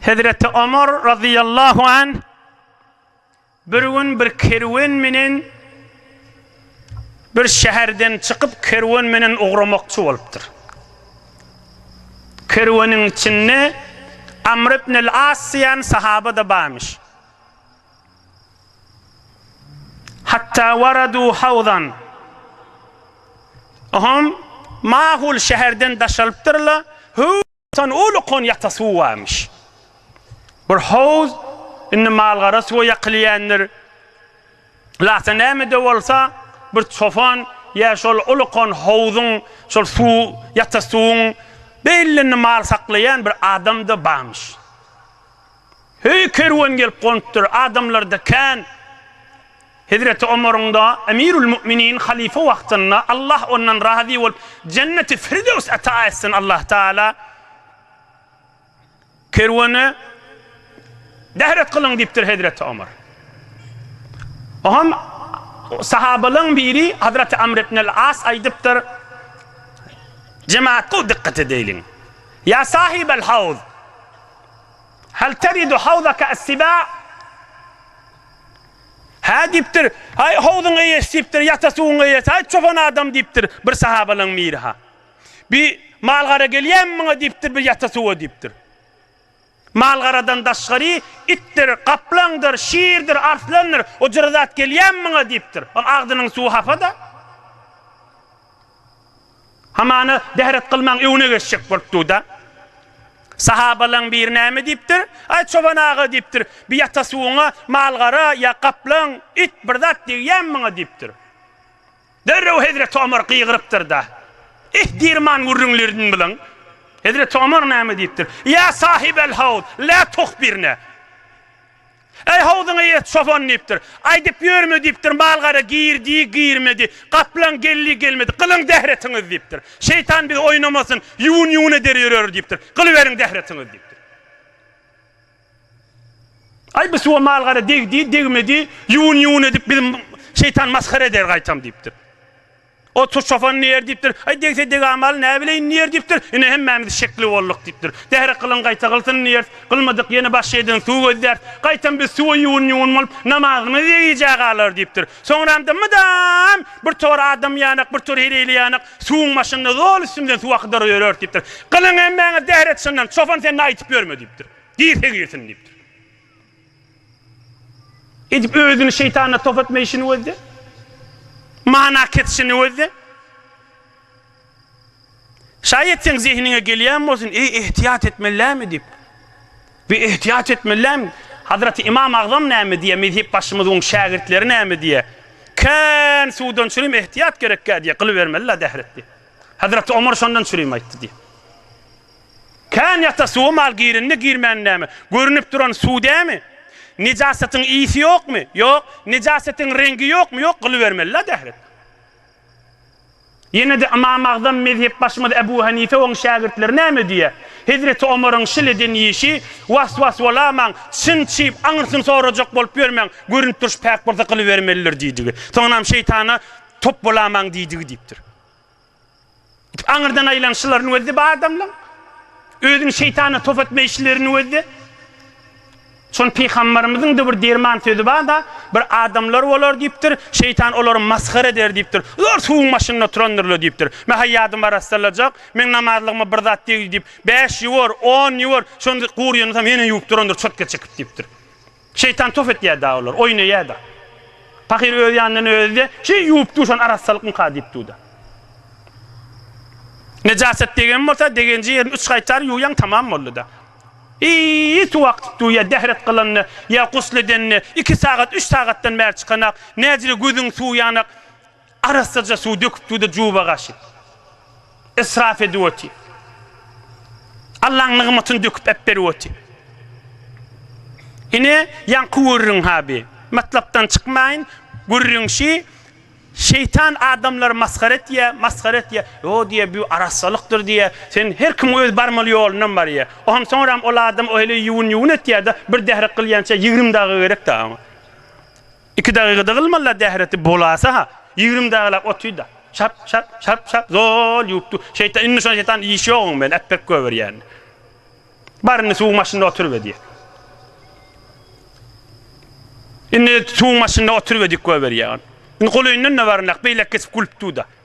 Hezreti Omar razyýallahu anh bir gün bir kerwen menen bir şäherden çykyp kerwen menen ugramakçy bolupdyr. Kerweniň içinde Amr ibn al-As diýen sahaba-da barmyş. Hatta waradu hawzan. Oňam mahul şäherden daşalypdyrlar. Tan uly konýata suw barmyş. Bir howuz indi malgara suwa ýakylýändir. Lata näme-de bolsa, bir çopan ýa şol uly kon howzuň, şol suw, ýata suwuň belinde mal saklaýan bir adam-da barmyş. Höý kerwen gelip gonupdyr, adamlarda kän. Hezreti Omaryň-da, Emirül Mu'minin, halyfa wagtynda, Allah ondan razy bolup, Jenneti Firdews ata etsin Allah Taala, kerwene, Dehret kylyň diýipdir Hezreti Omar. Oňam sahabalaň biri Hazreti Amr ibnel As aýdypdyr, Jemaat gowy dykgat edeýliň. Ýa sahibel hawz! Hal telidu hawzaka as-sibâ? Hä diýipdir, Aý, howzuň eýesi diýipdir, ýata suwuň eýesi, aý, çopan adam diýipdir, bir sahabalaryň biri-ha. Bi mal-gara gelýärmi muňa diýipdir, bir ýata suwa diýipdir. Mal-garadan daşgary, itdir, gaplaňdyr, şirdir, arslandyr, o jyry zat gelýärmi muňa diýipdir. Ol agzynyň suwy hapa-da. Hamana, Dehret kylmaň, öňüne geçjek bolup dur-da. Sahabalaň biri näme diýipdir? Aý, çoban aga, diýipdir, bir ýata suwuňa mal-gara ýa gaplaň, it bir zat degýämi maňa? diýipdir. Derrew hezreti Omar gygyrypdyr-da, Eh, dirman gürrüňlerini bilen! Hezreti Omar näme diýipdir? Ýa sahibel-hawz, lä tuhbirne! Äý, howzuňa ýet, çopan! diýipdir. Aýdyp ýörme diýipdir, mal-gara girdi, girmedi, gaplaň geldi, gelmedi. Gylyň zähretiňizi diýipdir. Şeýtan bizi oýnamasyn, ýuwun-ýuwun eder ýöreris diýipdir. Gylyberiň zähretiňizi diýipdir. Aý, bu suwa mal-gara degdi, degmedi, ýuwun-ýuwun edip bizi şeýtan masgara eder gaýtam diýipdir. Otur çopan diýer diýipdir. Aý degse degamaly näbileýin diýer diýipdir. Ine hemmämiz şekli bolduk diýipdir. Zähre kylyň gaýta kylsyn diýeris. Kylmadyk ýene başga ýerden suw gözläris. Gaýtam biz suwa ýuwun-ýuwun bolup namazymyzy degijä galarys diýipdir. Soňramda mydam bir tor adam ýanak, bir tor heleýli ýanak suwuň başynda zol üstümizden suw akydyryp ýöreris diýipdir. Kylyň hemmäňe zähre çyndan çopan sen-de aýtyp ýörme diýipdir. Girse girsin diýipdir. Edip özüni şeýtana top etme işini gözle. Mana kesişini gözle. Şaýat seň zehiniňe gelýän bolsun, eý ehtiýat etmellämi diýip. Bi ehtiýat etmellämi? Hazraty Ymam Agzam näme diýýär, mezhep başymyz oň şägirtleri näme diýýär? Kän suwdan çürim ehtiýat gerekkä diýýär, gylybermeli-la dähretdi. Hazraty Omar şondan çürim aýtdy diýýär. Kän ýata suwa mal girenmi girmänindämi, görünip duran suw dämi? Nejasatyň ysy ýokmy? Ýok. Nejasatyň reňgi ýokmy? Ýok. Gylybermeli-la dählik. Ýene-de Ymam Agzam mezhepbaşymyz Ebu Hanife oň şägirtleri näme diýýär? Hezreti Omaryň şil eden işi, was-was bolamaň, çyn çyp, aňyrsyny sorajak bolup ýörmäň, görünip durşy päk bolsa gylybermelidir diýdigi. Soňunam şeýtana top bolamaň diýdigi diýipdir. Aňyrdan aýlan şylaryny gözde bu adamlaň. Özüni şeýtana top etme işlerini gözde. Şony Pygambarymyzyň da bir derman sözi bar-da, Bir adamlar bolar diýipdir, şeýtan olary masgara eder diýipdir. Zor suwuň başynda oturandyrlar diýipdir. Mä-hä ýadyma arassalajak, meň namazlygma bir zat degdi diýip, bäş ýuwar, on ýuwar, şonda gury ýonasam ýene ýuwup durandyr çotga çekip diýipdir. Şeýtan tof etýär-de olar, oýnaýar-da. Pahyr öz ýanyndan özi-de, Şeý ýuwup duşan arassalykmyka diýip dur-da. Nejaset degen bolsa, degenji ýerini üç gaýtar ýuwýaň, tamam boldy-da. Eý, suw akdyp durýar, dähret kylanda ýa gusl edende, iki sagat, üç sagatdan bäri çykanak, näzire gözüň suwy ýanak, Arassaja suw döküp suwda juba gaşyp, israf edip otyr. Allaň nygmatyny döküp äpberip otyr. Ine, ýaňky gürrüň ha bi. Matlapdan çykmaýyn, gürrüň şi, şeýtan adamlary masgara etýä, masgara etýä, ýo diýä, bü arassalykdyr diýä, sen her kim öz barmaly ýolundan barýä. Oňa soňram ol adam o heleý ýuwun-ýuwun etýä-de, bir dährek gylýança ýigrimi dagy gerek-dä oňa. Iki dagygada gylmala dähreti bolasa-ha, ýigrimi dagylap otyda. Şap, şap, şap, şap, zol ýuwup dur. Şeýtan, indi şon şeýtan iş ýoguň men, äpbek göbür ýäni. Bar indi suwuň başynda oturyp edýek. Indi suwuň başynda oturyp edik göbür ýagan. Indi golyndan-da baryndak, beýlek geçip gülüp dur-da.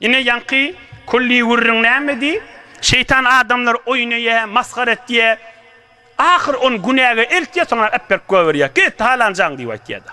Ine ýaňky külli gürrüň nämedi? Şeýtan adamlar oýun öýe, masgara etýä. Ahyr on günäge eltýä, soňra äpberk goýberýä. Git, halanjaň diýip aýtýa-da.